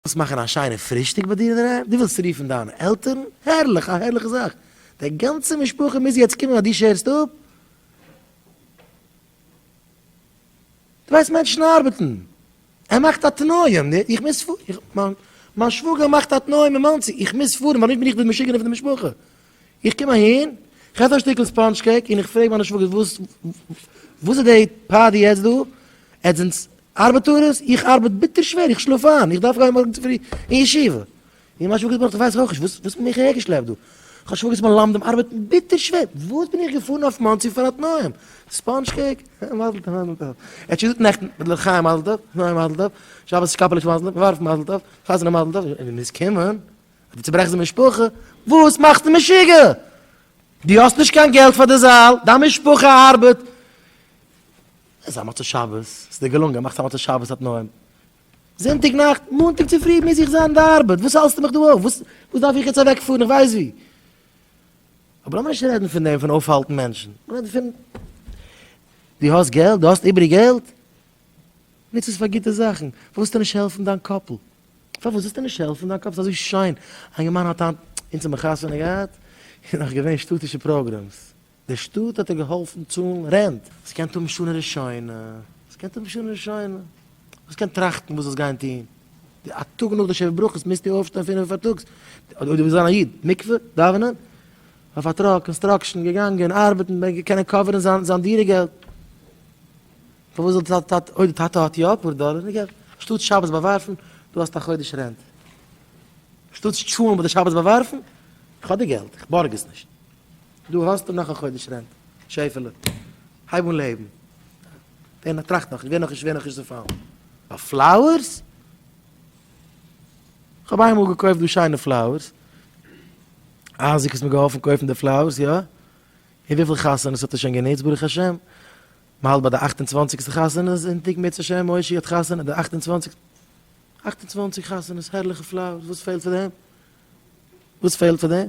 ווילסט מאכן א שיינע פרישטאג ביי דיר אינדערהיים? דו ווילסט רופן דיינע עלטערן? הערליך! א הערליכע זאך! די גאנצע משפחה מוז יעצט קומען ווייל דו שערסט אפ? דו ווייסט מענטשן ארבעטן! ער מאכט א תנאים! איך מוז פארן! מיין שוואגער מאכט א תנאים אין מאנסי! איך מוז פארן! ווייל נישט בין איך די משוגענע פון די משפחה! איך קום אהין, איך עס א שטיקל ספאנדזש קעיק און איך פרעג מיינע שוואגערס וואס איז די פארטי יעצט דא? עטס זענטס ארבעט אן עס? איך ארבעט ביטער שווער, איך שלאף איין, איך דארף גיין מארגן צופרי אין ישיבה. און מיין שוואגערס בארד ווייסעך אויך נישט וואס האט מיך אהער געשלעפט דא. כ'האב שוואגערס מלמדים ארבעטן ביטער שווער, וואס בין איך געפארן אויף מאנסי פאר א תנאים? ספאנדזש קעיק? מזל טוב מזל טוב. ער האט שוין געזאגט נעכטן מיט לחיים מזל טוב, נוי מזל טוב, שבת קאפעליש מזל טוב, ווארף מזל טוב, חתונה מזל טוב, און ווען מ'איז קומען, אדער צוברעכסט די משפחה, וואס מאכסטו משוגע? דו האסט נישט קיין געלט פאר די זאל, דיין משפחה ארבעט, עס א מצות שבת, עס איז דיר געלונגען, מאכסט א מצות שבת אויף נועם. זונטאג נאכט, מאנטאג צופרי מוז איך זיין אין די ארבעט, וואס האלסטו מיך דא אויף? וואס וואס דארף איך יעצט אוועקפארן איך ווייס ווי? אבער לאמיר נישט רעדן פון דעם פון אויפהאלטן מענטשן, לאמיר רעדן פון דו האסט געלט, דו האסט איבעריג געלט, נוץ עס פאר גוטע זאכן, פארוואס זאלסטו נישט העלפן דיין קאפל? פארוואס זאלסטו נישט העלפן דיין קאפל? עס איז אזוי שיין, א יונגערמאן האט היינט, אונז האבן חתונה געהאט, און נאך געווען שטאטישע פראגרעמס, די שטאט האט אים געהאלפן צאלן רענט. וואס קענט האבן שנה ראשונה? וואס קענט האבן שנה ראשונה? וואס קענט טראכטן וואס זאלסט גיין טון? די א טאג נאך די שבע ברכות מוזטו אויפשטיין פינעף אויף פארטאגס, אויב דו ווילסט זיין א איד, מקווה, דאווענען, אויף א טראק, קאנסטראקשן, געגאנגען ארבעטן, ב ה קענען קאווערן זיין זיין דירה געלט. פארוואס זאל די טאטע, אויב די טאטע האט יא אפאר דאלער, נו געב. שטאטס שבת באווארפן, דו האסט א חודש רענט. שטאטס טשולענט ביי די שבת באווארפן, איך האב די געלט, איך בארג עס נישט. דא האסטו נאך א חודש רענט, שעפעלע. הייב אן לעבן. ווער נאך טראכט נאך, ווער נאך נישט, ווער נאך נישט זאל פאלן. ביי פלאוערס? כ'האב איינמאל געקויפט דא שיינע פלאוערס. אייזיק האט מיר געהאלפן קויפן די פלאוערס, יא. און וויפיל חתונות האט ער שוין גענוצט ברוך השם. מ'האלט ביי די אכט און צוואנציגסטע חתונה זונטאג מוצ ש מוישי האט חתונה די אכט און צוואנציגסטע. אכט און צוואנציג חתונות, הערליכע פלאוערס, וואס פעלט פאר דעם? וואס פעלט פאר דעם?